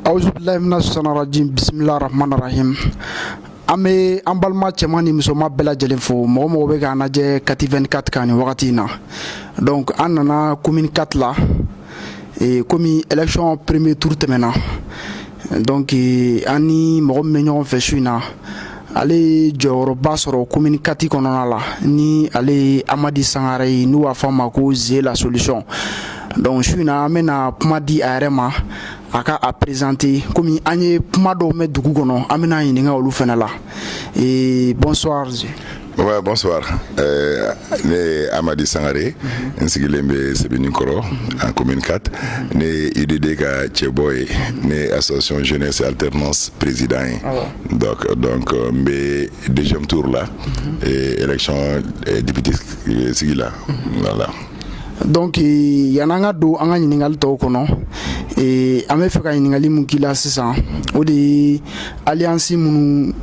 awuzu bilayi mina sitani rajim bisimilayi rahman rahim an bɛ an balima cɛman ni musoman bɛɛ lajɛlen fo mɔgɔ o mɔgɔ bɛ k'an lajɛ kati 24 kan nin wagati in na donc an nana commune 4 la e, komi élection premier tour tɛmɛna donc e, an ni mɔgɔ min bɛ ɲɔgɔn fɛ su in na ale ye jɔyɔrɔba sɔrɔ commune 4 kɔnɔna la ni ale ye amadi sangare ye n'u b'a fɔ a ma ko ze la solution donc su in na an bɛna kuma di a yɛrɛ ma a ka a présenter komi an ye kuma dɔw mɛn dugu kɔnɔ an bɛn'a ɲininka olu fana la ee bonsoir Ouais, bonsoir. Euh, ne ye Amadi Sangare, n sigilen bɛ Sebeninkɔrɔ, en commune 4. Ne ye UDD ka cɛbɔ ye, ne ye association jeunesse alternance président ye. donc donc euh, n bɛ deuxième tour la mhm. et élection euh, député euh, sigi la mhm. voilà. donc yanni an ka don an ka ɲininkali tɔw kɔnɔ an b'a fɛ ka ɲininkali min k'i la sisan o de ye alliance minnu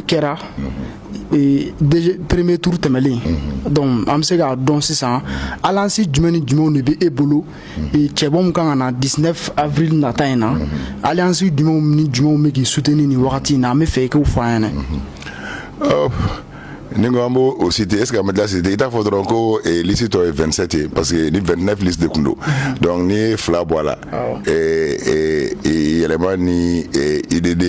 kɛra. Mhm. premier tour tɛmɛlen donc an bɛ se k'a dɔn sisan alliance jumɛn ni jumɛnw de bɛ e bolo cɛbɔ kan ka na 19 avril nata in na alliance jumɛnw ni jumɛnw bɛ k'i soutenir wagati in na an b'a fɛ i k'u fɔ an ɲɛna n'i ko an b'o o citer est-ce qu'a bɛ se ka citer i t'a fɔ dɔrɔn ko lisi tɔ ye 27 ye pa parce que ni 29 lisi de tun don donc n'i ye fila bɔ a la yɛlɛma ni UDD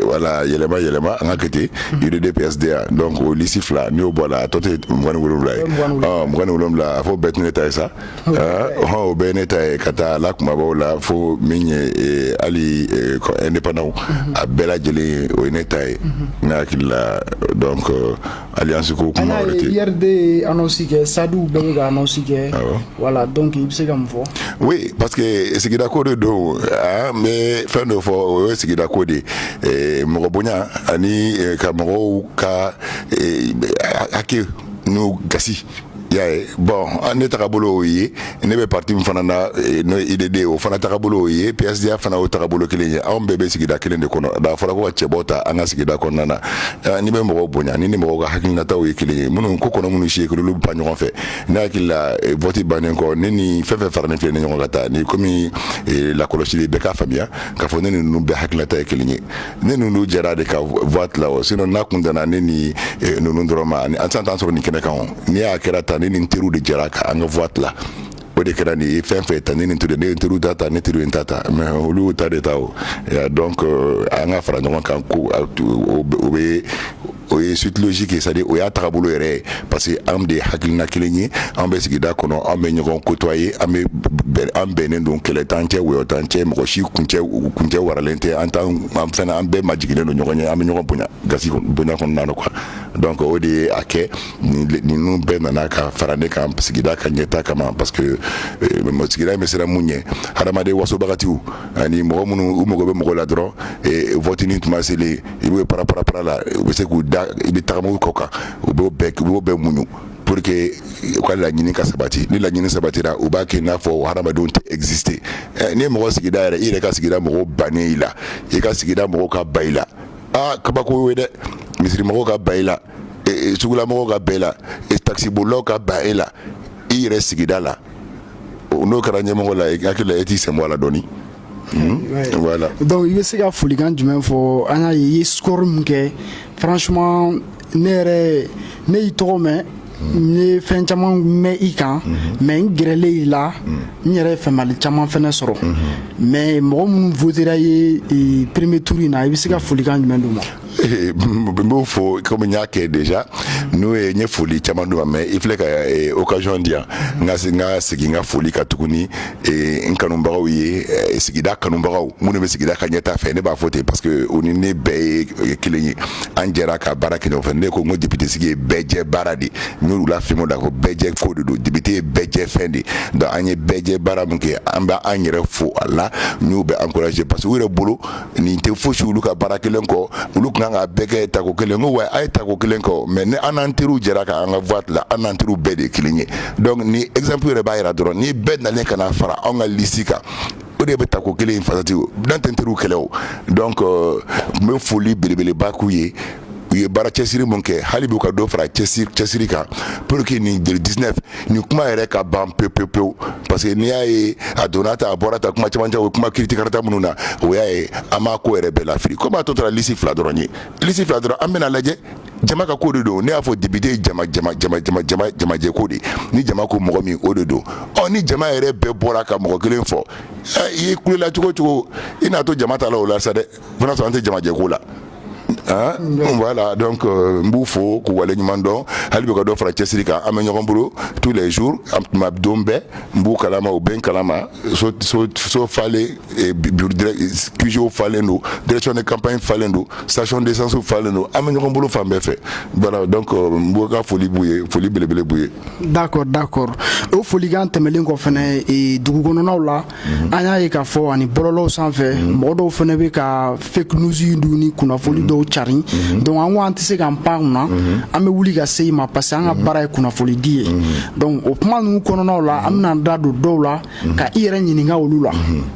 wala yɛlɛma yɛlɛma an ka côté UDD PSDA donc o lisi fila n'i y'o bɔ a la a tɔ tɛ mugan ni wolonwula ye mugan ni wolonwula a fɔ bɛɛ tun ne ta ye sa hɔn o bɛɛ ne ta ye k'a ta a la kunbabaw la fo min ye eh, hali eh, ko indépendant mhm. a bɛɛ lajɛlen o ye ne ta ye mhm. ne hakili la donc euh, alliance ko kuma wɛrɛ tɛ URD ye annonce kɛ SADI u bɛɛ bɛ ka annonce kɛ voilà donc i bɛ se ka mun fɔ oui parce que sigida ko de don an bɛ fɛn dɔ fɔ o ye sigida ko de ye mɔgɔ bonya ani eh, ka mɔgɔw ka hakɛ n'u gasi y'a ye bon ne tagabolo o ye ne bɛ pati min fana na eh, n'o UDD ye o fana tagabolo o ye PSDA fana o tagabolo kelen ye anw bɛɛ bɛ sigida kelen de kɔnɔ a fɔra ko ka cɛbɔ ta an ka sigida kɔnɔna na eh, n'i bɛ mɔgɔw bonya n'i ni mɔgɔw ka hakilinataw ye kelen ye minnu ko kɔnɔ minnu si olu ba ɲɔgɔn fɛ ne hakili la eh, vɔti bannen kɔ ne ni fɛn o fɛn faralen filɛ nin ɲɔgɔn kan taa ni komi lakɔlɔsili bɛɛ k'a faamuya k'a fɔ ne ninnu bɛɛ hakilinata ye kelen ye ne ninnu jɛra de ka voix tila o sinon n'a tun danna ne ni eh, ninnu dɔrɔn ma aw tun t'an sɔrɔ nin kɛnɛ kan o n'i y'a ye a kɛra tan ne ni n teriw de jɛra ka an ka voix tila o de kɛra nin ye fɛn fɛn ta ne ni teriw ne ye teriw ta ta ne teriw ye n ta ta mais olu y'u ta de ta o donc euh, an ka fara ɲɔgɔn kan ko o bɛ o ye sutullosi kɛ c'est-à-dire o y'a taga bolo yɛrɛ ye parce que anw de ye hakilina kelen ye an bɛ sigida kɔnɔ an bɛ ɲɔgɔn kotɔ ye an an bɛnnen don kɛlɛ t'an cɛ wɔyɔ t'an cɛ mɔgɔ si kun cɛ kun cɛ waralen tɛ an an fana an bɛɛ majiginnen don ɲɔgɔn ye an bɛ ɲɔgɔn bonya ka bonya kɔnɔna na kan donc o de ye a kɛ ninnu bɛɛ nana ka fara ne kan sigida ka ɲɛta kama parce que sigida bɛ siran mun ɲɛ hadamaden wasobaga ani mɔgɔ minnu u mago bɛ mɔgɔ la dɔrɔn voteli tuma selen i bɛ para para para la u bɛ se k'u da i bɛ tagama u kɔ kan u b'o bɛɛ u b'o bɛɛ muɲu pour que u ka laɲini ka sabati ni laɲini sabatira u b'a kɛ i n'a fɔ o hadamadenw tɛ exister ɛ n'i ye mɔgɔ sigida yɛrɛ i yɛrɛ ka sigida mɔgɔw bannen i la i ka sigida mɔgɔw ka ban i la aa kabako y'o ye dɛ misirimɔgɔw ka ban i la sugulamɔgɔw ka ban i la taxibolilaw ka ban e la i yɛrɛ sigida la n'o kɛra ɲɛmɔgɔ la i hakili la e t'i senbɔ a la dɔɔni donc i bɛ se ka folikan jumɛn fɔ an y'a ye i ye score min kɛ franchement ne yɛrɛ ne y'i tɔgɔ mɛn n ye fɛn caman mɛn i kan mais n gɛrɛlen i la n yɛrɛ faamuli caman fana sɔrɔ mais mɔgɔ minnu votera i ye premier tour in na i bɛ se ka folikan jumɛn d'u ma Eh, n b'o fɔ komi n y'a kɛ déjà n'o ye n ye foli caman d'u ma mais i filɛ ka eh, occasion di yan n ka se n ka segin n ka foli kan tuguni eh, n kanubagaw ye sigida kanubagaw minnu bɛ sigida ka ɲɛta fɛ ne b'a fɔ ten parce que o ni ne bɛɛ ye kelen ye an jɛra ka baara kɛ ɲɔgɔn fɛ ne ko n ko député sigi ye bɛɛ jɛ baara de n y'olu la fɛn da ko bɛɛ jɛ ko de don député ye bɛɛ jɛ fɛn de donc an ye bɛɛ jɛ baara min kɛ an bɛ an yɛrɛ fo a la n y'u bɛɛ encourager parce que u yɛrɛ bolo nin tɛ fosi olu ka baara kɛlen kɔ olu tun kan ka bɛɛ kɛ tako kelen ko wa a ye tako kelen kɔ mais ni an'an teriw jɛra ka an ka vote tila an'an teriw bɛɛ de ye kelen ye donc ni exemple yɛrɛ b'a jira dɔrɔn ni bɛɛ nalen ka na fara an ka lisi kan o de bɛ tako kelen in fati an t'an teriw kɛlɛ donc n bɛ foli belebeleba k'olu ye u ye baara cɛsiri min kɛ hali bi u ka dɔ fara cɛsiri kan pour que nin le dix-neuf nin kuma yɛrɛ ka ban pe pe pewu parce que n'i y'a ye a donna tan a bɔra tan kuma caman o kuma kirikarata minnu na o y'a ye an m'a ko yɛrɛ bɛɛ lafi ko bi a tɔ tora lisi fila dɔrɔn ye lisi fila dɔrɔn an bɛn'a lajɛ jama ka ko de don ne y'a fɔ député jamajɛ ko de ni jama ko mɔgɔ min o de don ɔ ni jama yɛrɛ bɛɛ bɔra ka mɔgɔ kelen fɔ i ye kulela cogo o cogo i n'a to jama ta la o la sa dɛ Fana sɔrɔ an tɛ jamajɛ ko la voilà donc n b'u fo k'u wale ɲuman dɔn hali bi ka dɔ fara cɛsiri kan an bɛ ɲɔgɔn bolo tous les jours tuma don bɛɛ n b'u kalama u bɛ n kalama so falen QG falen don direction de campagne falen don station d'essence falen don an bɛ ɲɔgɔn bolo fan bɛɛ fɛ voilà donc n b'u ka foli b'u ye foli belebele b'u ye d'accord d'accord o folikan tɛmɛnen kɔ fana dugu kɔnɔnw la mhm. an y'a ye k'a fɔ ani bɔlɔlɔw sanfɛ mhm. mɔgɔ dɔw fana bɛ ka fake news dun ni kunnafoni mhm. dɔw carin donc an ko an tɛ se k'an pan o kunna an bɛ wuli ka se i ma parce que an ka baara ye kunnafoni di ye donc o kuma ninnu kɔnɔnaw la an bɛna an da don dɔw la ka i yɛrɛ ɲininka olu la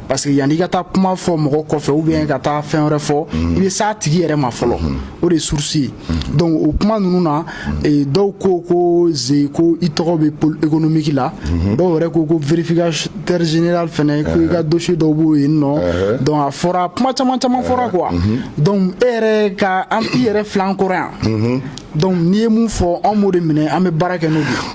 parce que yanni i ka taa kuma fɔ mɔgɔ kɔfɛ ou bien ka taa fɛn wɛrɛ fɔ i bɛ s'a tigi yɛrɛ ma fɔlɔ o de source ye donc o kuma ninnu na eh, dɔw ko ko Zé ko i tɔgɔ bɛ pole économique la dɔw yɛrɛ ko ko vérificateur général fɛnɛ ko i ka dossier dɔw b'o yen nɔ donc a fɔra kuma caman caman fɔra quoi donc e yɛrɛ ka an i yɛrɛ filɛ an kɔrɔ yan donc n'i ye mun fɔ anw b'o de minɛ an bɛ baara kɛ n'o de ye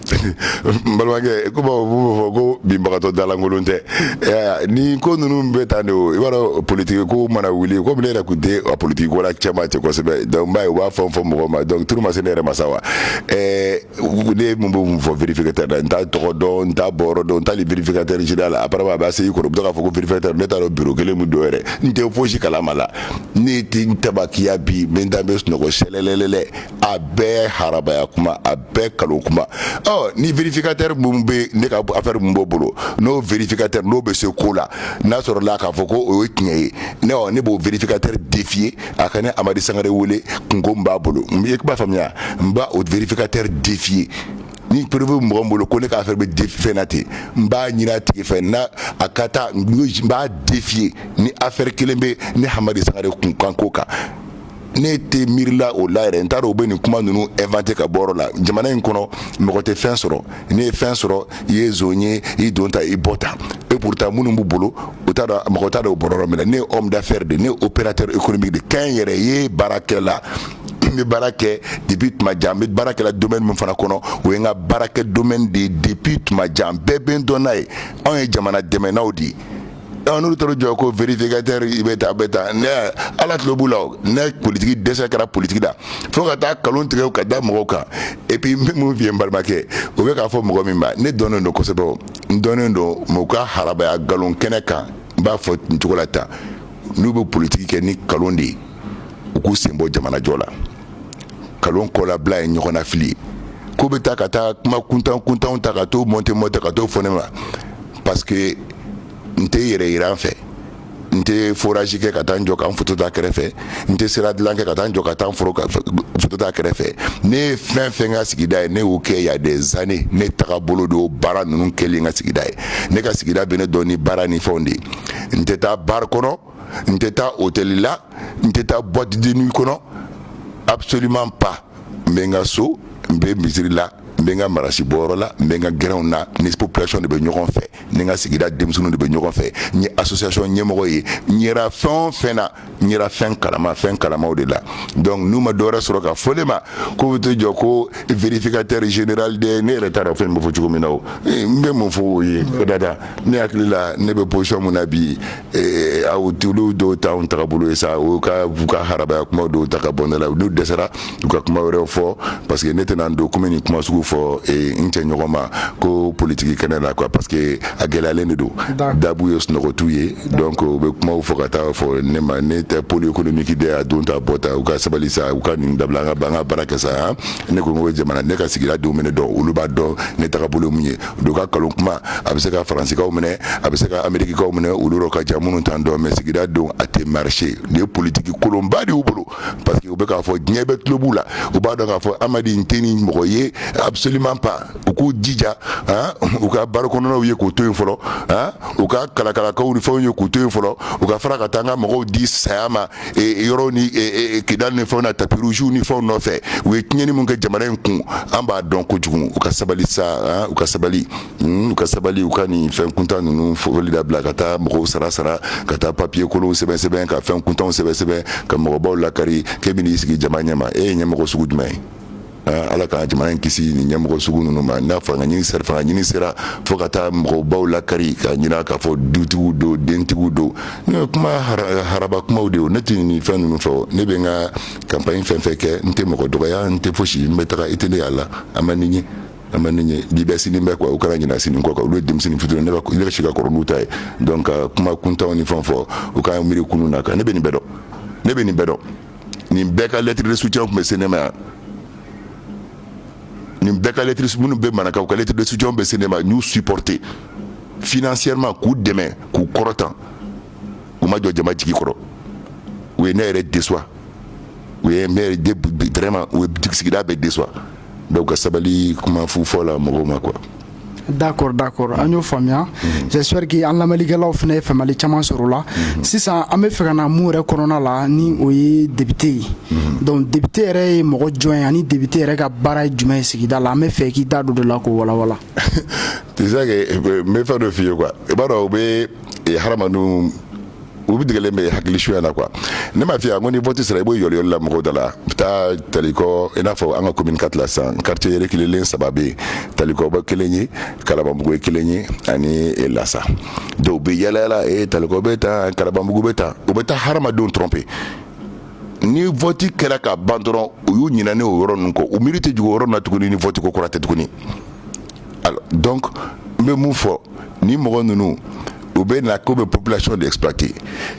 balimakɛ comme u b'a fɔ ko binbagatɔ dalankolon tɛ ɛ nin ko ninnu bɛ tan de o i b'a dɔn politiki ko mana wuli ko ne yɛrɛ tun tɛ a politiki ko la cɛmancɛ kosɛbɛ donc b'a ye u b'a fɔ fɔ mɔgɔ ma donc tour ma se ne yɛrɛ ma sa wa ɛɛ ne mun bɛ mun fɔ vérificateur la n t'a tɔgɔ dɔn n t'a bɔyɔrɔ dɔn n t'ali vérificateur général la apparemment a b'a se i kɔrɔ u bɛ to k'a fɔ ko vérificateur ne t'a dɔn bureau kelen min don yɛrɛ n tɛ fosi kalama la ne tɛ n tabakiya bi n bɛ n da n bɛ sunɔgɔ sɛlɛlɛlɛ a bɛɛ harabaya kuma a bɛɛ kalon kuma ɔ ni vérificateur min bɛ ne ka affaire min b'o bolo n'o vérificateur n'o bɛ se ko la n'a sɔrɔla k'a fɔ ko o ye tiɲɛ ye ne ɔ ne b'o vérificateur défier a ka ne Amadi Sangare wele kunko min b'a bolo n bɛ kuma faamuya n b'a o vérificateur défier ni preuve bɛ mɔgɔ bolo ko ne ka affaire bɛ vérificateur n b'a ɲini a tigi fɛ na a ka taa n b'a défier ni affaire kelen bɛ ne Hamadi Sangare kunkan ko kan ne tɛ miirila o la yɛrɛ n taara u bɛ nin kuma ninnu inventer ka bɔ la jamana in kɔnɔ mɔgɔ tɛ fɛn sɔrɔ n'i ye fɛn sɔrɔ i ye zon ye i donda i bɔda e pourtant minnu b' bolo u mɔgɔ t' o bɔ minɛ ne ye homme d'affaires de ne opérateur économique de kɛ n yɛrɛ ye baarakɛla bɛ baara kɛ depuis tuma jan bɛ baara kɛ la domaine min fana kɔnɔ o ye n ka baarakɛ domaine de ye depuis tuma jan bɛɛ bɛ n dɔn n'a ye anw ye jamana dɛmɛna de ye ni olu taara u jɔ ko vérificateur i bɛ tan bɛ tan ne Ala tulo b'u la o ne politique dɛsɛ kɛra politique la fo ka taa nkalon tigɛ ka da mɔgɔw kan et puis n bɛ mun f'i ye n balimakɛ o bɛ k'a fɔ mɔgɔ min ma ne dɔnnen don kosɛbɛ o n dɔnnen don mais u ka harabaya nkalon kɛnɛ kan n b'a fɔ nin cogo la tan n'u bɛ politique kɛ ni nkalon de ye u k'u sen bɔ jamanajɔ la. kalon kɔlabila ye ɲɔgɔnnafili ye ko bɛ taa ka taa kuma kuntan kuntanw ta ka to monter monter ka to fɔ ne ma parce que n tɛ yɛrɛyira fɛ n tɛ forage kɛ ka taa n jɔ ka n foto ta kɛrɛfɛ n tɛ sira dilan kɛ ka taa n jɔ ka taa n foro foto ta kɛrɛfɛ ne ye fɛn fɛn kɛ n ka sigida ye ne y'o kɛ y a des années ne taga bolo don baara ninnu kɛli n ka sigida ye ne ka sigida bɛ ne dɔn ni baara ni fɛnw de ye n tɛ taa bar kɔnɔ n tɛ taa hôtel la n tɛ taa boîte de nuit kɔnɔ absolument pas n bɛ n ka so n bɛ misiri la n bɛ n ka marasi bɔyɔrɔ la n bɛ n ka gɛrɛnw na ni population de bɛ ɲɔgɔn fɛ ni n ka sigida denmisɛnninw de bɛ ɲɔgɔn fɛ n ye association ɲɛmɔgɔ ye n yera fɛn o fɛn na n yera fɛn kalama fɛn kalamaw de la donc n'u ma dɔwɛrɛ sɔrɔ ka fɔ ne ma ko bɛ to jɔ ko vérificateur général de ne yɛrɛ t'a dɔn fɛn bɛ fɔ cogo min na o n bɛ mun fɔ o ye o dada ne hakili la ne bɛ position min na bi ee aw tulo dɔw t'anw tagabolo ye sa u ka u ka harabaya kuma dɔw ta ka bɔ ne la n'u dɛsɛra u ka kuma wɛrɛw fɔ parce que ne tɛna n don komi nin kuma sugu fɔ ee n cɛ ɲɔgɔn ma ko politiki kɛnɛ la quoi parce que a gɛlɛyalen de don dabu ye sunɔgɔtu ye donc u bɛ kumaw fɔ ka taa fɔ ne ma ne tɛ pôle économique de a don ta bɔ ta u ka sabali sa u ka nin dabila an ka an ka baara kɛ sa ne ko n ko jamana ne ka sigida denw bɛ ne dɔn olu b'a dɔn ne tagabolo ye mun ye o ka nkalon kuma a bɛ se ka faransikaw minɛ a bɛ se ka amerikikaw minɛ olu yɔrɔ ka jan minnu t'an dɔn mɛ sigida don a tɛ marcher nin ye politiki kolonba de y'u bolo parce que u bɛ k'a fɔ diɲɛ bɛɛ tulo b'u la u b'a dɔn k'a fɔ amadu in tɛ nin mɔgɔ ye absolument pas u k'u jija u ka baro kɔnɔnaw ye k'u to yen fɔlɔ u ka kalakalakaw ni fɛnw ye k'u to yen fɔlɔ u ka fara ka taa an ka mɔgɔw di saya ma yɔrɔ ni kidali ni fɛnw na tapis rouge ni fɛnw nɔfɛ u ye tiɲɛni min kɛ jamana in kun an b'a dɔn kojugu u ka sabali sa u ka sabali u ka sabali u ka nin fɛn kuntan ninnu fɔli dabila ka taa mɔgɔw sara sara ka taa papiye kolonw sɛbɛnsɛbɛn ka fɛn kuntanw sɛbɛnsɛbɛn ka mɔgɔbaw lakari k'e bɛna i sigi jama ɲɛma e ye ɲɛmɔgɔ sugu jumɛn ye Ala ka jamana in kisi ni ɲɛmɔgɔ sugu ninnu ma n'a fanga ɲini sera fanga ɲini sera fo ka taa mɔgɔbaw lakari ka ɲinɛ k'a fɔ dutigiw don dentigiw don n'o ye kuma haraba kumaw de ye ne tɛ nin fɛn ninnu fɛ ne bɛ n ka kanpaɲi fɛn fɛn kɛ n tɛ mɔgɔ dɔgɔya n tɛ fosi n bɛ taa i tɛ ne y'a la a ma nin ye a ma nin ye bi bɛ sini bɛ kuwa u kana ɲinɛ sini kɔ kan olu ye denmisɛnnin fitiri ne yɛrɛ si ka kɔrɔ n'u ta ye dɔn ka kuma kuntanw ni fɛn fɔ u ka miiri kunun na kan ne bɛ nin bɛɛ dɔn ne bɛ nin bɛɛ dɔn nin bɛɛ ka lettre de secours tun bɛ se ne ma yan nin bɛɛ ka lettre de s minnu bɛ marakaw ka lettre de secours bɛ se ne ma n y'u siporote financièrement k'u dɛmɛ k'u kɔrɔtan u ma jɔ jama jigi kɔrɔ u ye ne yɛrɛ décevoir u ye vraiment u sigida bɛɛ décevoir dɔw ka sabali kuma fu fɔ la mɔgɔw ma kuwa D'accord d'accord an y'o faamuya j'espère que an lamɛnnikɛlaw fana ye faamuyali caman sɔrɔ a la sisan an bɛ fɛ ka na mun yɛrɛ kɔnɔna la ni o ye depite ye dɔnku depite yɛrɛ ye mɔgɔ jɔn ye ani depite yɛrɛ ka baara ye jumɛn ye sigida la an bɛ fɛ k'i da don o de la k'o walawala n bɛ fɛn dɔ f' i ye i b'a dɔn u bɛ ha u bɛ degelen bɛ hakili suya na quoi ne m'a fiya ko ni vote sera u bɛ yaalayaala mɔgɔw da la bɛ taa talikɔ i n'a fɔ an ka commune kati la sisan quartier reculélen saba bɛ talikɔ b'a kelen ye kalabanbugu ye kelen ye ani lasa dɔw bɛ yaalayaala e talikɔ bɛ taa kalabanbugu bɛ taa u bɛ taa hadamadenw dɔrɔn pe ni vote kɛra ka ban dɔrɔn u y'u ɲinɛ o yɔrɔ ninnu kɔ u miiri tɛ jigi o yɔrɔ na tuguni ni vote ko kɔrɔ tɛ tuguni donc n bɛ mun fɔ ni mɔgɔ ninnu u bɛ na k'u bɛ population de pati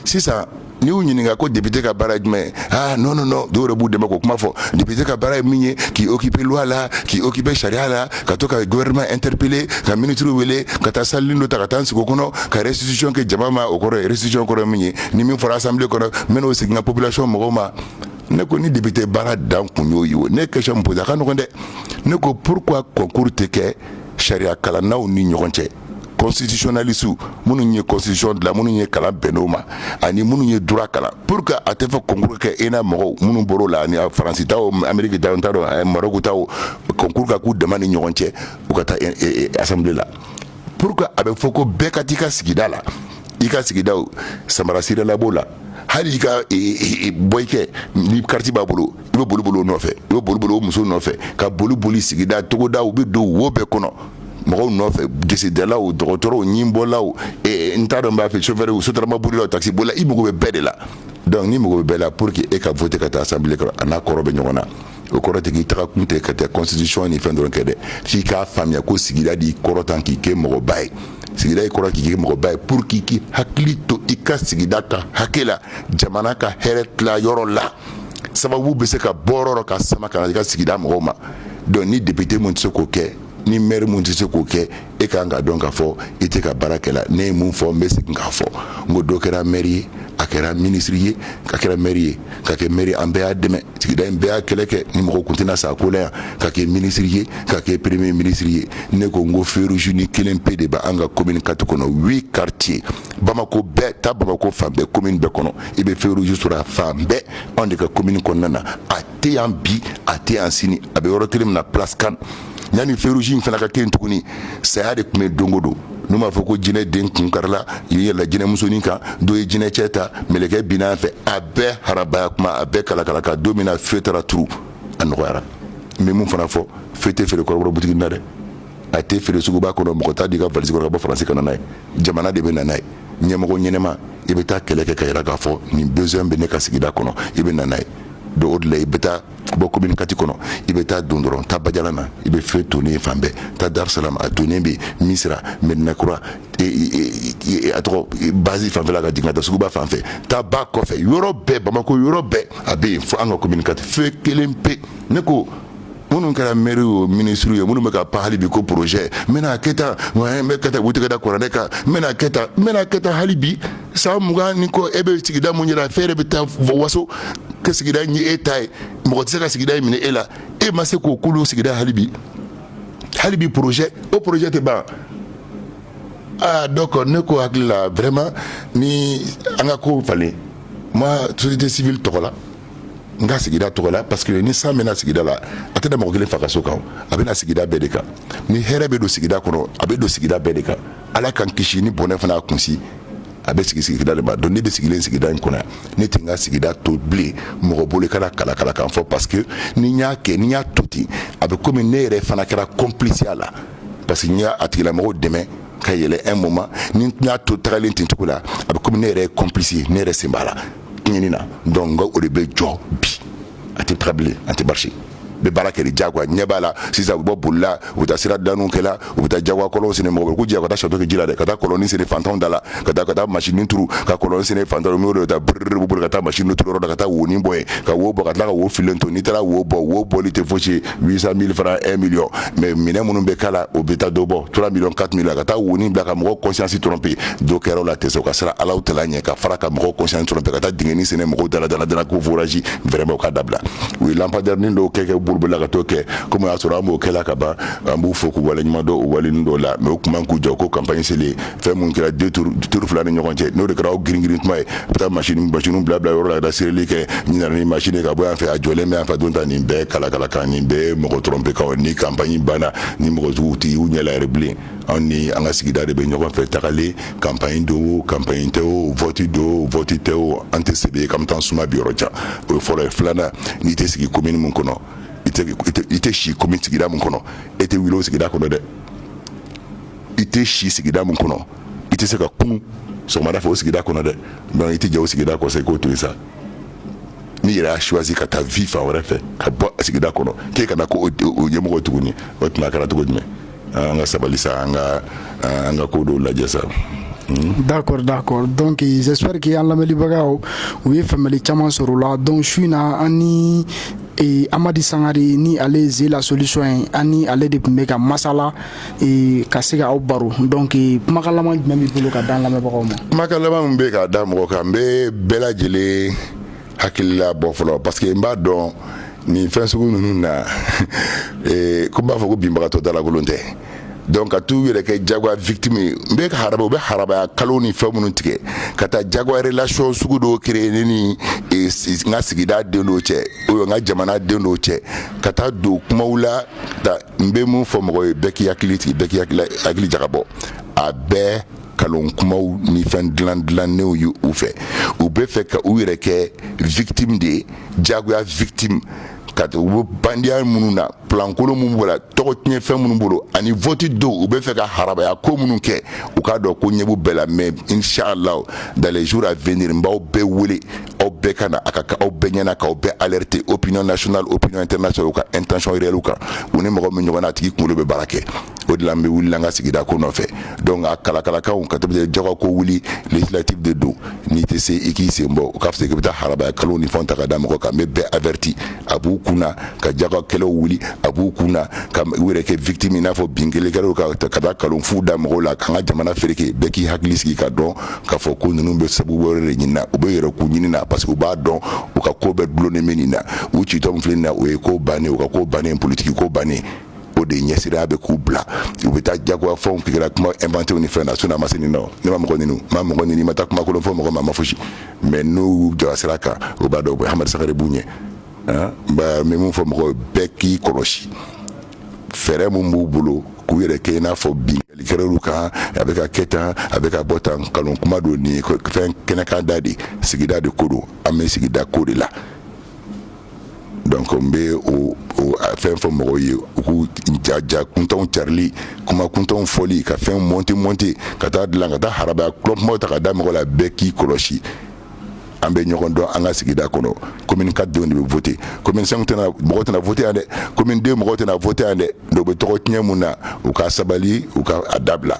sisan n y'u ɲininka ko député ka baara jumɛn ye aa n nɔ dɔw yɛrɛ b'u dɛmɛ k'o kuma fɔ député ka baara ye min ye k'i occuper loi la k'i occuper sariya la ka to ka gouvernement interpeller ka minisiri wele ka taa salilu don ta ka taa sigida kɔnɔ ka restitution kɛ jama ma o kɔrɔ restitution kɔrɔ min ye ni min fɔra assemblée kɔnɔ n'o seginna population mɔgɔw ma ne ko ni député baara dan kun y'o ye o ne ye question min poser a ka nɔgɔn dɛ ne ko pourquoi concours tɛ kɛ sariya kalannaw ni ɲɔgɔn cɛ constitutionnalistes minnu ye constitution dilan minnu ye kalan bɛnn'o ma ani minnu ye droit kalan pourquoi a tɛ fɔ concours kɛ ENA mɔgɔw minnu bɔr'o la ani Faransi taw Amérique taw n t'a dɔn Maroc taw concours ka k'u dama ni ɲɔgɔn cɛ u ka taa assemblée la pourquoi a bɛ fɔ ko bɛɛ ka t'i ka sigida la i ka sigidaw samara sirala b'o la hali i ka boyikɛ ni kariti b'a bolo i bɛ boliboli o nɔfɛ i bɛ boliboli o muso nɔfɛ ka boli boli sigida togoda u bɛ don wo bɛɛ kɔnɔ mɔgɔw nɔfɛ gesedalaw dɔgɔtɔrɔw ɲinbɔlaw n t'a dɔn b'a fɛ chauffeurw sotrama bolila taxi bolila i mago bɛ bɛɛ de la donc n'i mago bɛɛ la pour que e ka voter ka taa assemblée kɔnɔ a n'a kɔrɔ bɛ ɲɔgɔn na o kɔrɔ tɛ k'i taga kun tɛ ka taa constitution ni fɛn dɔrɔn kɛ dɛ f'i k'a faamuya ko sigida de y'i kɔrɔta k'i kɛ mɔgɔba ye sigida y'i kɔrɔta k'i kɛ mɔgɔba ye pour k'i k'i hakili to i ka sigida ka hakɛ la jamana ka hɛrɛ tila yɔrɔ la sababu bɛ se ka bɔ yɔrɔ o yɔrɔ k'a sama ka na i ka sigida mɔgɔw ma donc ni député mun tɛ se k'o kɛ ni maire mun tɛ se k'o kɛ e ka kan k'a dɔn k'a fɔ i tɛ ka baara kɛla ne ye mun fɔ n bɛ segin k'a fɔ n ko dɔ kɛra mɛri ye a kɛra minisiri ye a kɛra mɛri ye ka kɛ mɛri an bɛɛ y'a dɛmɛ sigida in bɛɛ y'a kɛlɛ kɛ ni mɔgɔ kun tɛna sa ko la yan ka kɛ minisiri ye ka kɛ premier minisiri ye ne ko n ko feu rougenin kelen pe de bɛ an ka commune kati kɔnɔ huit quartier bamako bɛɛ ta bamako fan bɛɛ commune bɛɛ kɔnɔ i bɛ feu rouge sɔrɔ a fan bɛɛ anw de ka commune kɔnɔna na a tɛ yan bi a tɛ yan sini a bɛ yɔrɔ kelen min na place kan yanni feu rouge in fana ka kɛ yen tuguni saya de kun bɛ don o don n'u b'a fɔ ko jinɛ den kun karila i bɛ yɛlɛ jinɛ musonin kan dɔ ye jinɛ cɛ ta mɛlɛkɛ binna a fɛ a bɛɛ harabaya kuma a bɛɛ kalakala ka don min na feu taara turu a nɔgɔyara n bɛ mun fana fɔ feu tɛ feere kɔrɔbɔrɔ butigi na dɛ a tɛ feere suguba kɔnɔ mɔgɔ t'a d'i ka valise kɔnɔ ka bɔ faransi ka na n'a ye jamana de bɛ na n'a ye ɲɛmɔgɔ ɲɛnama i bɛ taa kɛlɛ kɛ k'a yira k'a fɔ nin besoin bɛ ne ka sigida kɔnɔ i bɛ na n'a ye donc o de la i bɛ taa bɔ commune 4 kɔnɔ i bɛ taa don dɔrɔn taa bajalan na i bɛ feu tonnen fan bɛɛ taa dar salam a tonnen bɛ misira medina kura e, e, e, a tɔgɔ base fanfɛla ka jigin ka taa suguba fan fɛ taa ba kɔfɛ yɔrɔ bɛɛ bamako yɔrɔ bɛɛ a bɛ yen fo an ka commune 4 feu kelen pe ne ko minnu kɛra mɛriw minisiriw ye minnu bɛ ka pan hali bi ko porozɛ n bɛna kɛ tan n bɛ kɛ tan u tɛgɛ da kuranɛ kan n bɛna kɛ tan n bɛna kɛ tan hali bi san mugan ni kɔ e bɛ sigida mun yɛrɛ fɛn yɛrɛ bɛ taa waso ka sigida in ye e ta ye mɔgɔ tɛ se ka sigida in minɛ e la e ma se k'o kulu sigida hali bi hali bi porozɛ o porozɛ tɛ ban aa donc ne ko hakili la vraiment ni an ka kow falen ma société civile tɔgɔ la n ka sigida tɔgɔ la parce que ni san bɛ na sigida la a tɛ na mɔgɔ kelen fa ka so kan a bɛ na sigida bɛɛ de kan ni hɛrɛ bɛ don sigida kɔnɔ a bɛ don sigida bɛɛ de kan ala k'an kisi ni bɔnɛ fana a kunsi a bɛ sigi sigida de ma donc ne bɛ sigilen sigida in kɔnɔ ne tɛ n ka sigida to bilen mɔgɔ bolo ka na kalakala kan fɔ parce que ni n y'a kɛ ni n y'a to ten a bɛ komi ne yɛrɛ fana kɛra complice a la parce que n ye a tigilamɔgɔw dɛmɛ ka yɛlɛn un moment ni n y'a to tagalen ten cogo la a bɛ komi ne yɛrɛ ye complice ye ne yɛrɛ sen b'a la ɲɛni na donc n ko o de bɛ jɔ bi a tɛ taga bilen a tɛ barisi bɛ baara kɛ ni jagoya ɲɛ b'a la sisan u bɛ bɔ bolila u bɛ taa sira daniw kɛla u bɛ taa jagoya kɔlɔnw sene mɔgɔ bɛ ko jɛ ka taa sɔtɔ kɛ ji la dɛ ka taa kɔlɔnni sene fantanw da la ka taa ka taa masini turu ka kɔlɔn sene fantanw n'o de bɛ taa biriri b'u bolo ka taa masini turu yɔrɔ la ka taa wonin bɔ yen ka wo bɔ ka tila ka wo filen to n'i taara wo bɔ wo bɔli tɛ fosi ye 800 000 francs 1 million mais minɛn minnu bɛ k'a la o bɛ taa dɔ bɔ 3 millions 4 millions ka taa woni bila ka mɔgɔ conscience tromper dɔ kɛra o la tɛ se u ka siran ala taala ɲɛ ka fara ka mɔgɔ conscience tromper ka taa dingɛni sene mɔgɔw da la da la da la ko forage vraiment o ka dabila u ye lampadaire nin dɔw kɛ kɛ bɔlɔnba la ka t'o kɛ komi o y'a sɔrɔ an b'o kɛla ka ban an b'u fo k'u waleɲuman dɔn o waleni dɔw la mais u tun man kan k'u jɔ ko campagne selen fɛn minnu kɛra duuru fila ni ɲɔgɔn cɛ n'o de kɛra grinrin kuma ye bɛ taa mas bas bila bila yɔrɔ la da seereli kɛ ni mas ka bɔ yan fɛ a jɔlen bɛ fɛ don ta nin bɛɛ kalakalakan nin bɛɛ mɔgɔ dɔrɔn bɛkaw ni campagne banna ni mɔgɔjugu tɛ y'u ɲɛre bilen anw ni an ka sigida de bɛ ɲɔgɔn fɛ tagalen campagne don campagne tɛ o wote don wote tɛ o an tɛ se ye ka taa suma bi yɔrɔ ca o ye fɔlɔ ye filanan n'i tɛ sigi ko minnu kɔnɔ i tɛ sigi ko min sigira min kɔnɔ e tɛ wu sigira kɔnɔ dɛ i tɛ si sigida min kɔnɔ i tɛ se ka kunun sɔgɔmada fɛ o sigida kɔnɔ dɛ donc i tɛ jɛn o sigida kɔ sa i k'o to yen sa n'i yɛrɛ y'a choisi ka taa vivre fan wɛrɛ fɛ ka bɔ a sigida kɔnɔ k'e kana ko o ɲɛmɔgɔ tuguni o tuma a kɛra cogo jumɛn an ka sabali sa an ka an ka ko dɔw lajɛ sa. Mm-hmm. d'accord d'accord donc j'espère que an lamɛnlibagaw u ye faamuyali caman sɔrɔ o la donc su in na an ni e, Amadi Sangare ni ale ye Ze la solution ye an ni ale de tun bɛ ka masala ka se awaw baro dɔn k' kumakan jumɛn b'i bolo ka da lamɛnbagaw ma kumakan laban min bɛ ka da mɔgɔ kan n bɛ bɛɛ lajɛlen hakilila bɔ fɔlɔ parce que n b'a dɔn nin fɛn sugu ninnu na ko b'a fɔ ko binbagatɔ dalakolon tɛ donc ka u yɛrɛ kɛ jago victime n bɛ ha u bɛ harabaya kalon ni fɛn minnu tigɛ ka taa jagoya relation sugu dɔ créer ne ni n ka sigida den cɛ o ye n ka jamana den cɛ ka taa don kuma la n bɛ mun fɔ mɔgɔ ye bɛɛ k'i hakili sigi bɛɛ k'i hakili jagabɔ a bɛɛ kalon kumaw ni fɛn dilan dilannenw ye u fɛ u bɛ fɛ ka u yɛrɛ kɛ victime de ye jagoya victime ka u bɛ bandiya minnu na plan kolon minnu b'o la tɔgɔ tiɲɛ fɛn minnu bolo ani vote don u bɛ fɛ ka harabaya ko minnu kɛ u k'a dɔn ko ɲɛ b'u bɛɛ la mais inchallah dans les jours à venir n b'aw bɛɛ wele aw bɛɛ ka na a ka aw bɛɛ ɲɛna k'aw bɛɛ alerter opinion nationale opinion internationale u ka intention réelle kan u ni mɔgɔ min ɲɔgɔn na a tigi kunkolo bɛ baara kɛ o de la an bɛ wuli an ka sigida ko nɔfɛ donc a kalakalakaw ka tɛmɛ jɔgɔ ko wuli législative de don n'i tɛ se i k'i sen bɔ o ka fisa k'i bɛ taa harabaya kalon ni fɛnw ta ka da mɔgɔ kan n bɛ bɛɛ averti a b'u kun na ka jagoya kɛlɛw wuli a b'u kun na ka u yɛrɛ kɛ victime i n'a fɔ binkanni kɛr'u kan ka taa kalonfu da mɔgɔw la k'an ka jamana fereke bɛɛ k'i hakili sigi k'a dɔn k'a fɔ ko ninnu bɛ sabu wɛrɛ de ɲini na u bɛ yɛrɛ k'u ɲini na parce que u b'a dɔn u ka ko bɛɛ dulonnen bɛ nin na u citɔ min filɛ nin na o ye ko bannen u ka ko bannen politiki ko bannen o de ɲɛsiranya bɛ k'u bila u bɛ taa jagoya fɛnw créer kuma inventew ni fɛn na sinon a ma se nin nɔ ne ma mɔgɔ ninnu ma mɔgɔ ninnu ma taa kuma kolon fɔ mɔgɔ ma ma fosi mais n'u jɔra sira kan o b'a dɔn u bɛ Amadi Sangare b'u ɲɛ n bɛ mun fɔ mɔgɔ bɛɛ k'i kɔlɔsi fɛɛrɛ min b'u bolo k'u yɛrɛ kɛ i n'a fɔ binkanni kɛr'u kan a bɛ ka kɛ tan a bɛ ka bɔ tan nkalon kuma don nin fɛn kɛnɛkanda de sigida de ko don an bɛ sigida ko de la donc n bɛ o fɛn fɔ mɔgɔw ye u k'u ja ja kuntanw carili kuma kuntanw fɔli ka fɛn monter monter ka taa dilan ka taa harabaya kalon kumaw ta ka da mɔgɔ la bɛɛ k'i kɔlɔsi an bɛ ɲɔgɔn dɔn an ka sigida kɔnɔ commune quatre denw de bɛ vote commune cinq mɔgɔ tɛna vote yan dɛ commune deux mɔgɔ tɛna vote yan dɛ dɔw bɛ tɔgɔ tiɲɛ mun na u ka sabali u ka a dabila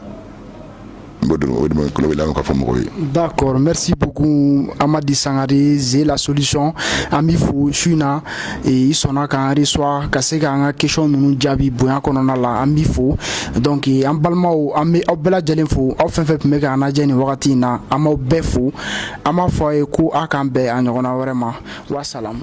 d'accord merci beaucoup Amadi Sangare Ze la solution an b'i fo su in na i sɔnna k'an recevoir ka se k'an ka question ninnu jaabi bonya kɔnɔna la an b'i fo donc an balimaw an bɛ aw bɛɛ lajɛlen fo aw fɛn fɛn tun bɛ k'an lajɛ nin wagati in na an b'aw bɛɛ fo an b'a fɔ a ye ko aw k'an bɛn a ɲɔgɔnna wɛrɛ ma wasalaam